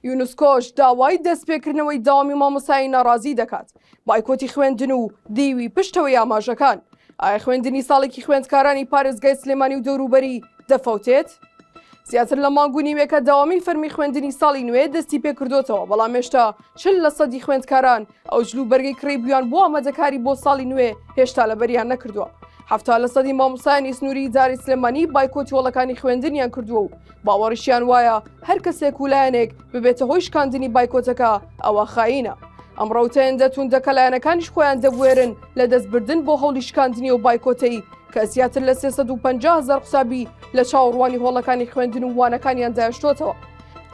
یونسکۆش داوای دەستپێکردنەوەی داوامی مامۆسایی ناڕازی دەکات بایکۆتی خوێندن و دیوی پشتەوەی ئاماژەکان ئایا خوێندنی ساڵێکی خوێندکارانی پارێزگای سلێمانی و دەوروبەری دەفەوتێت؟ زیاتر لە مانگ و نیوێکە داوامی فەرمی خوێندنی ساڵی نوێ دەستی پێکردوتەوە بەڵام مێشتا چل لە سەدی خوێندکاران ئەو جلوبەرگەی کڕیبوویان بۆ ئامادەکاری بۆ ساڵی نوێ هێشتا لەبەریان نەکردووە هەفتا لە سەدی مامۆسایانی سنووری جاری سلێمانی بایکۆتی وڵەکانی خوێندنیان کردووە و باوەڕیشیان وایە هەر کەسێک و لایەنێک ببێتە هۆی شکاندنی بایکۆتەکە ئەوە خاینە ئەم ڕوتەن دەتون دەکە لایەنەکانیش خۆیان دەبوێرن لە دەستبردن بۆ هەولی شکاندنی و بایکۆتەی کە زیاتر لە 350 هزار قوسابی لە چاوەڕوانی هۆڵەکانی خوێندن و وانەکانیان داشتۆتەوە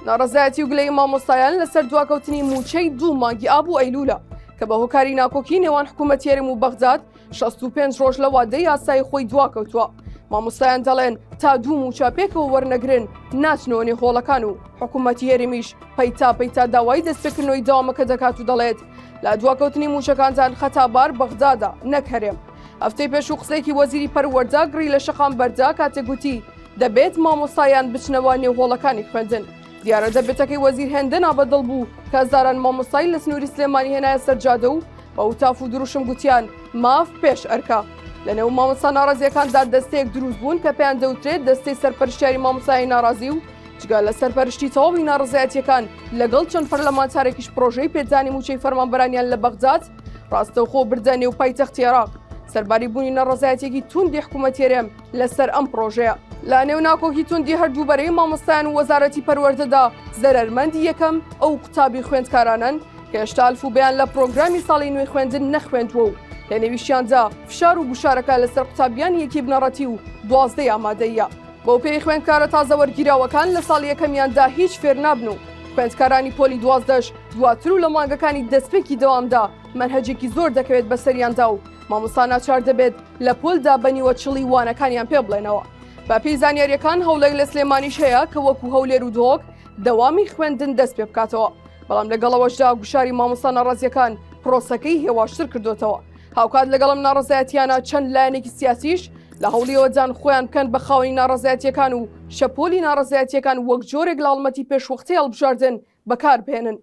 ناڕزایەتی و گلەی مامۆستایان لەسەر دواکەوتنی موچەی دوو مانگی ئابوو ئەیلوولە کە بە هۆکاری ناکۆکی نێوان حکوومەت یارم و بەغداد 65 ڕۆژ لە وادە یاسای خۆی دواکەوتووە مامۆستایان دەڵێن تا دوو موچە پێکەوە وەرنەگرن ناچنەوەنی هۆڵەکان و حکوومەتی هەرمیش پەیتا پەیتا داوای دەستپێکردنەوەی داوامەکە دەکات و دەڵێت لە دواکەوتنی موچەکانتان خەتابار بەغدادا نەکەرێم هەفتەی پێش و قسێکی وەزیری پەروەەردە گڕی لە شەقام بەردا کاتێک گوتی دەبێت مامۆستایان بچنەوە نێو هۆڵەکانی خوێندن دیارە دەبێتەکەی وەزیر هێندە نابەدڵ بوو کە زاران مامۆستای لە سنووری سلێمانی هێنایە سەرجادە و بە وتاف و دروشم گوتیان ماف پێش ئەرکە لەنێو مامۆستا ناڕازیەکاندا دەستەیەک دروست بوون کە پێیان دەوترێت دەستەی سەرپەرشتیاری مامۆسایی ناڕازی و جگە لە سەرپەرشتی تەواوی ناڕزایەتەکان لەگەڵ چەند پەرلەمانتارێکیش پرۆژەی پێدانی موچەی فەرمانبەرانیان لە بەغداد ڕاستەوخۆ بردە نێو پایتەختی عێراق سەرباری بوونی نەڕزایەتێکی توندی حکوومەتێرێم لەسەر ئەم پرۆژەیە لە نێو ناکۆکی توندی هەردوو بەرەی مامۆستایان و وەزارەتی پەروەردەدا زەرەرمەندی یەکەم ئەو قوتابی خوێندکارانن کە هێشتا الفوبیان لە پرۆگرامی ساڵی نوێی خوێندن نەخوێندووە و لە نێویشیاندا فشار و گوشارەکە لەسەر قوتابیان یەکی بنەڕەتی و دوازدەی ئامادەیە بەو پێی خوێندکارە تازە وەرگیراوەکان لە ساڵ یەکەمیاندا هیچ فێر نابن و خوێندکارانی پۆلی دوازدەش دواتر و لە مانگەکانی دەستپێکی دەوامدا مەرهەجێکی زۆر دەکەوێت بەسەریاندا و مامۆستا ناچار دەبێت لە پۆلدا بە نیوەچڵی وانەکانیان پێ بڵێنەوە. بە پێی زانیاریەکان هەوڵێک لە سلێمانیش هەیە کە وەکو هەولێر و دهۆک دەوامی خوێندن دەست پێ بکاتەوە، بەڵام لەگەڵەوەشدا گوشاری مامۆستا ناڕەزیەکان پرۆسەکەی هێواشتر کردۆتەوە. هاوکات لەگەڵ ئەم ناڕەزایەتیانە چەند لایەنێکی سیاسیش لە هەوڵیەوەدان خۆیان بکەن بە خاوەنی ناڕەزایەتیەکان و شەپۆلی ناڕەزایەتیەکان وەک جۆرێک لە هەڵمەتی پێشوەختەی هەڵبژاردن بەکاربهێنن.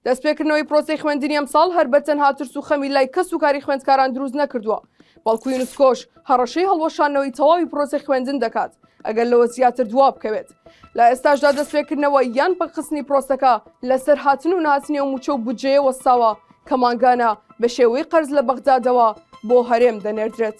دەستپێکردنەوەی پرۆسەی خوێندنی ئەمساڵ هەر بە تەنها ترس و خەمی لای کەس و کاری خوێندکاران دروست نەکردووە، بەڵکو یونسکۆش هەڕەشەی هەڵوەشاندنەوەی تەواوی پرۆسەی خوێندن دەکات ئەگەر لەوە زیاتر دوا بکەوێت. لە ئێستاشدا دەستپێکردنەوە یان پەکخستنی پرۆسەکە لەسەر هاتن و نهاتنی ئەو مووچە و بودجەیە وەستاوە کە مانگانە بە شێوەی قەرز لە بەغدادەوە بۆ هەرێم دەنێردرێت.